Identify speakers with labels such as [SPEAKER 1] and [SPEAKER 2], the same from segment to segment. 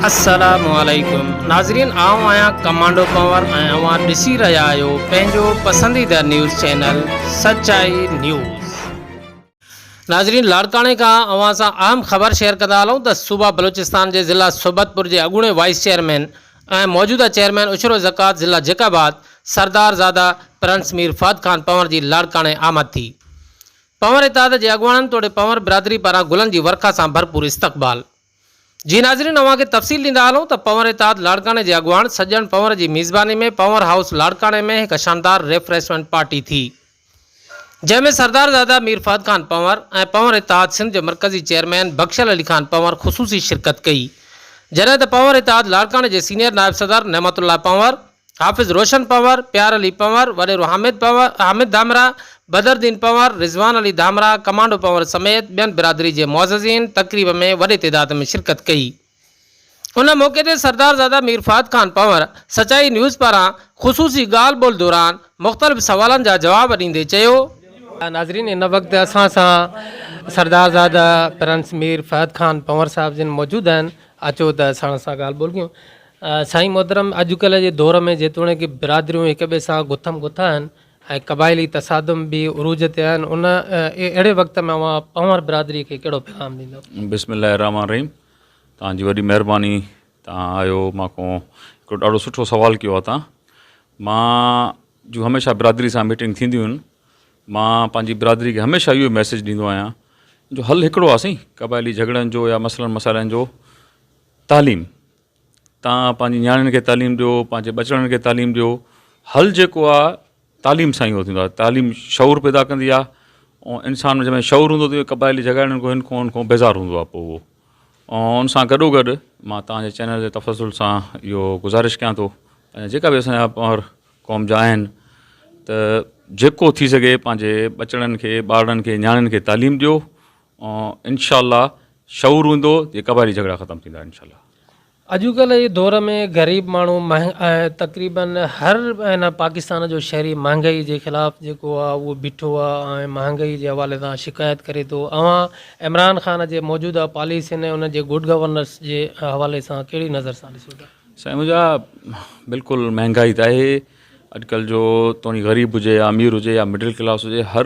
[SPEAKER 1] السلام عليڪم ناظرين آئون آهيان ڪمانڊو ڪنور ۽ اوهان ڏسي رهيا آهيو پنهنجو پسنديده نيوز چينل سچائي نيوز. ناظرين لاڙڪاڻي کان اوهان سان اهم خبر شيئر ڪندا هلون ته صوبه بلوچستان جي ضلع صحبتپور جي اڳوڻي وائيس چيئرمين ۽ موجوده چيئرمين عشر زڪوات ضلع جيڪب آباد سردار زاده پرنس مير فهد خان پنور جي لاڙڪاڻي آمد ٿي پنور اتحاد جي اڳواڻن توڙي پنور برادري پاران گلن جي ورکا سان ڀرپور استقبال جي ناظرين اوهان کي تفصيل ڏيندا هلون ته پنور اتحاد لاڙڪاڻي جي اڳواڻ سڄڻ پنور جي ميزباني ۾ پنور هائوس لاڙڪاڻي ۾ هڪ شاندار ريفريشمينٽ پارٽي ٿي جنهن ۾ سردارزاده مير فهد خان پنور ۽ پنور اتحاد سنڌ جو مرڪزي چيئرمين بخشل علي خان پنور خصوصي شرڪت ڪئي جڏهن ته پنور اتحاد لاڙڪاڻي جي سينيئر نائب صدر نعمت الله پنور حافظ روشن پنور، پيار علي پنور، وڏيرو حامد پنور، حامد ڌامراهه، بدرالدين پنور، رضوان علي ڌامراهه، ڪمانڊو پنور سميت ٻين برادري جي معززين تقريب ۾ وڏي تعداد ۾ شرڪت ڪئي. ان موقعي تي سردارزاده مير فهد خان پنور سچائي نيوز پاران خصوصي ڳالهه ٻولهه دوران مختلف سوالن جا جواب ڏيندي چيو. ناظرين ان وقت اسان سان سردارزاده پرنس مير فهد خان پنور صاحب جن موجود آهن اچو ته ساڻس سان ڳالهه ٻولهه ڪيون. سائين محترم اڄ ڪلهه جي دور ۾ جيتوڻيڪ برادريون هڪ ٻئي سان گٿم گٿ آهن ۽ قبائلي تصادم به عروج تي آهن ان اهڙي وقت ۾ اوهان پنهور برادري کي ڪهڙو پيغام ڏيندو. بسم الله الرحمٰن الرحيم
[SPEAKER 2] توهان جي وڏي مهرباني توهان آيو مان کون هڪڙو ڏاڍو سٺو سوال ڪيو آهي توهان مان جون هميشه برادري سان ميٽنگ ٿينديون آهن مان پنهنجي برادري کي هميشه اهو ميسيج ڏيندو آهيان جو حل هڪڙو آهي سائين قبائلي جهڳڙن جو يا مسئلن مسائلن جو تعليم تان پنهنجي نياڻين کي تعليم ڏيو پنهنجي ٻچڙن کي تعليم ڏيو حل جيڪو آ تعليم سان ئي اهو ٿيندو آ تعليم شعور پيدا ڪندي آ ۽ انسان ۾ جڏهن شعور هوندو تڏهن قبائلي جهڳاڙن کان هن کان هن کان بيزار هوندو آ پوء اهو ۽ ان سان گڏو گڏ مان تنهنجي چينل جي تفصل سان اهو گذارش ڪيان ٿو جيڪا به اسان جا پنهور قوم جا آهن ته جيڪو ٿي سگهي پنهنجي ٻچڙن کي ٻارڙن کي نياڻين کي تعليم ڏيو انشاءالله شعور هوندو ته قبائلي جهڳڙا ختم ٿيندا انشاءالله. اڄوڪلهه جي
[SPEAKER 1] دور ۾ غريب ماڻهو ۽ تقريبن هر پاڪستان جو شهري مهانگائي جي خلاف جيڪو آ اهو بيٺو آ ۽ مهانگائي جي حوالي سان شڪايت ڪري ٿو اوهان عمران خان جي موجوده پاليسين ۽ ان جي گڊ گورننس جي حوالي سان ڪهڙي نظر سان ڏسو ٿا. سائين منهنجا
[SPEAKER 2] بلڪل مهانگائي ته آهي اڄڪلهه جو توڻي غريب هجي يا امير هجي يا مڊل ڪلاس هجي هر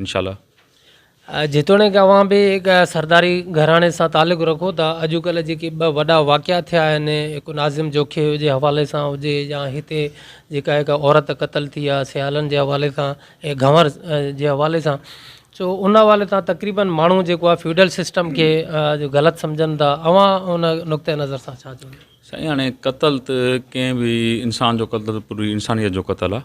[SPEAKER 2] انشاء الله.
[SPEAKER 1] جيتوڻيڪ اوهان به هڪ سرداري گهراڻي سان تعلق رکو ٿا، اڄڪلهه جيڪي ٻه وڏا واقعا ٿيا آهن، هڪ ناظم جوکي جي حوالي سان هجي يا هتي جيڪا هڪ عورت قتل ٿي آهي سيالن جي حوالي سان ۽ گهنور جي حوالي سان سو ان حوالي سان تقريبن ماڻهو جيڪو آهي فيوڊل سسٽم کي غلط سمجهن ٿا، اوهان ان نقطه نظر سان ڇا چوندا؟ سائين هاڻي قتل
[SPEAKER 2] ته ڪنهن به انسان جو قتل پوري انسانيت جو قتل آهي،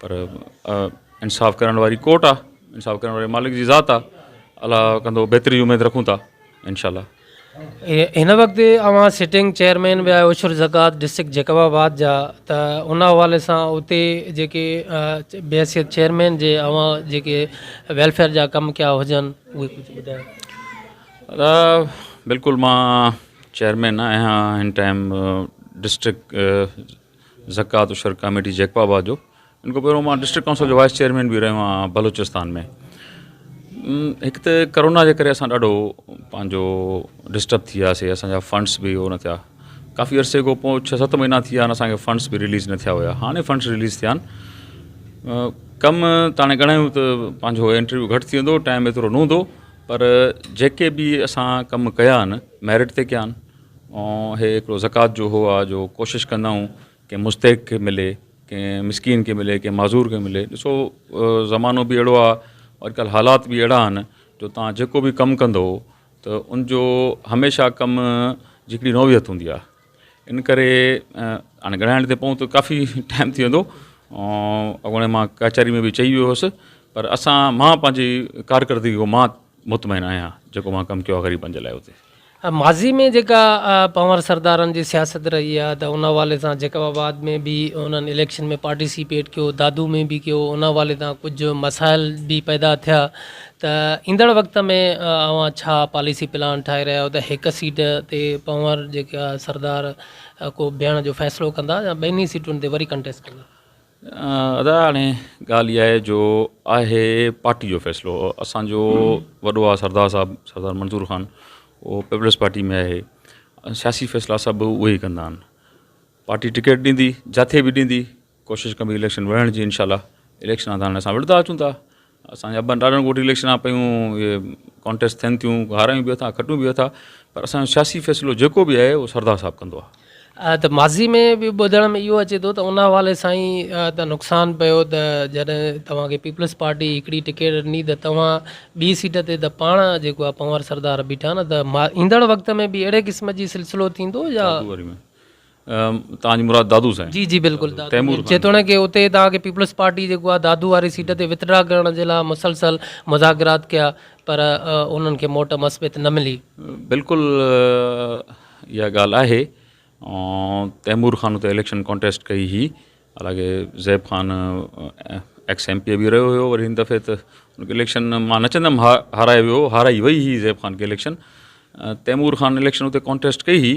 [SPEAKER 2] پر انصاف ڪرڻ واري ڪورٽ آ انصاف ڪرڻ واري مالڪ جي ذات آ الله ڪندو بهتري جي اميد رکون ٿا انشاء الله.
[SPEAKER 1] هن وقت اوهان سٽنگ چيئرمين به آهيو عشر زڪوات ڊسٽرڪٽ جيڪب آباد جا ته ان حوالي سان اتي جيڪي بحيثيت چيئرمين جي اوهان جيڪي ويلفيئر جا ڪم ڪيا هجن اهي ڪجهه ٻڌايو بلڪل
[SPEAKER 2] مان چيئرمين آهيان هن ٽائيم ڊسٽرڪٽ زڪوات الشرق ڪاميٽي جيڪب آباد جو ان کان پهريون مان ڊسٽرڪٽ ڪائونسل جو وائس چيئرمين به رهيو آهيان بلوچستان ۾ هڪ ته ڪرونا جي ڪري اسان ڏاڍو پنهنجو ڊسٽرب ٿي وياسي اسانجا فنڊس به هو نه ٿيا ڪافي عرصي کان پوء ڇهه ست مهينا ٿي ويا آهن فنڈس به ريليز نه ٿيا هيا هاڻي فنڈس ريليز ٿيا آهن ڪم تاڻي گھڻا آهيون ته پنهنجو انٽرويو گھٽ ٿي ويندو ٽائم ايترو نه هوندو پر جيڪي به اسان ڪم ڪيا آهن ميرٽ تي ڪيا آهن ۽ هي هڪڙو زڪوات جو هو آ جو ڪوشش ڪندا آهيون ڪنهن مستحق کي ملي ڪنهن مسڪين کي ملي ڪنهن معذور کي ملي ڏسو زمانو به اهڙو آ اڄڪلهه حالات به اهڙا آهن جو تان جيڪو به ڪم ڪندو ته ان جو هميشه ڪم جي هڪڙي نوعيت هوندي آ ان ڪري هاڻي ڳڻائڻ تي پون ته ڪافي ٽائم ٿي ويندو اڳوڻي مان ڪچهري ۾ به چئي ويو هوس پر اسان مان پنهنجي ڪارڪردگي مان مطمئن آهيان جيڪو اوهان ڪم ڪيو آهي غريبن جي لاء اتي. ماضي ۾
[SPEAKER 1] جيڪا پنهور سردارن جي سياست رهي آهي ته ان حوالي سان جيڪب آباد ۾ به انهن اليڪشن ۾ پارٽيسيپيٽ ڪيو دادو ۾ به ڪيو ان حوالي سان ڪجهه مسائل به پيدا ٿيا ته ايندڙ وقت ۾ اوهان ڇا پاليسي پلان ٺاهي رهيا آهيو ته هڪ سيٽ تي پنهور جيڪا سردار ڪو بيهڻ جو فيصلو ڪندا يا ٻنهي سيٽن تي وري ڪنٽيسٽ ڪندا. ادا
[SPEAKER 2] هاڻي ڳالهه اها آهي جو آهي پارٽي جو فيصلو اسان جو وڏو آ سردار صاحب سردار منظور خان اهو پيپلز پارٽي ۾ آهي سياسي فيصلا سڀ اهي ئي ڪندا آهن پارٽي ٽڪيٽ ڏيندي جاٿي به ڏيندي ڪوشش ڪبي اليڪشن وڙهڻ جي انشاء الله اليڪشن آنداڻ اسان وڙهندا اچون ٿا اسان جا اربن ڏاڏن ڳوٺ اليڪشن آ پيون اهي ڪانٽيسٽ ٿين ٿيون هارائيون به اٿا کٽيون به اٿا پر اسان جو سياسي فيصلو جيڪو به آهي اهو سردار صاحب ڪندو آ. ته ماضي
[SPEAKER 1] ۾ به ٻڌڻ ۾ اهو اچي ٿو ته ان حوالي سان ئي ته نقصان پيو ته جڏهن توهان کي پيپلز پارٽي هڪڙي ٽڪيٽ ڏني ته توهان ٻي سيٽ تي ته پاڻ جيڪو آ پنهور سردار بيٺا نه ته ايندڙ وقت ۾ به اهڙي قسم جي سلسلو ٿيندو يا.
[SPEAKER 2] توهان جي مراد دادو سائين. جي جي بلڪل دادو تيمور
[SPEAKER 1] مير خان. جيتوڻيڪ اتي توهان کي پيپلز پارٽي جيڪو آ دادو واري سيٽ تي وٿڊرا ڪرڻ جي لاء مسلسل مذاڪرات ڪيا پر انهن کي موٽ مثبت نه ملي. بلڪل
[SPEAKER 2] اها ڳالهه آهي تيمور خان اتي اليڪشن ڪانٽيسٽ ڪئي هئي حالانڪه Zeb Khan ex M P A به رهيو هيو وري هن دفعي ته ان کي اليڪشن مان نه چئندم ها هارائي ويو هارائي وئي هئي زيب خان کي اليڪشن تيمور خان اليڪشن اتي ڪانٽيسٽ ڪئي هئي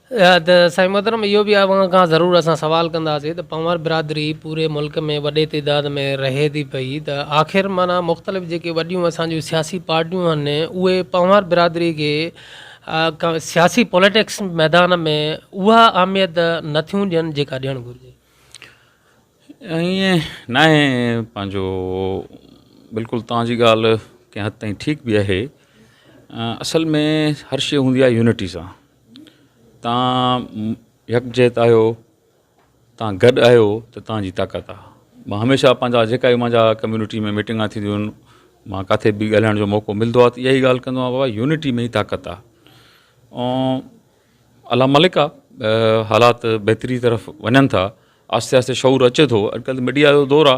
[SPEAKER 2] ته
[SPEAKER 1] سائين محترم اهو به اوهان کان ضرور اسان سوال ڪنداسين ته پنهور برادري پوري ملڪ ۾ وڏي تعداد ۾ رهي ٿي پئي ته آخر معنيٰ مختلف جيڪي وڏيون اسان جون سياسي پارٽيون آهن اهي پنهور برادري کي سياسي پوليٽڪس ميدان ۾ اها اهميت نه ٿيون ڏين جيڪا ڏيڻ گهرجي ائين
[SPEAKER 2] ناهي پنهنجو بلڪل توهان جي ڳالهه ڪنهن حد تائين ٺيڪ به آهي اصل ۾ هر شيء هوندي آهي يونٽي سان تان يڪجهت آهيو تان گڏ آهيو ته تان جي طاقت آ مان هميشه پنهنجا جيڪا به منهنجا ڪميونٽي ۾ ميٽنگا ٿينديون آهن مان ڪاٿي به ڳالهائڻ جو موقعو ملندو آ ته ائي ڳالهه ڪندو آهيان بابا يونٽي ۾ ئي طاقت آ ۽ الله مالڪ آ حالات بهتري طرف وڃن ٿا آهستي آهستي شعور اچي ٿو اڄڪلهه ميڊيا جو دور آ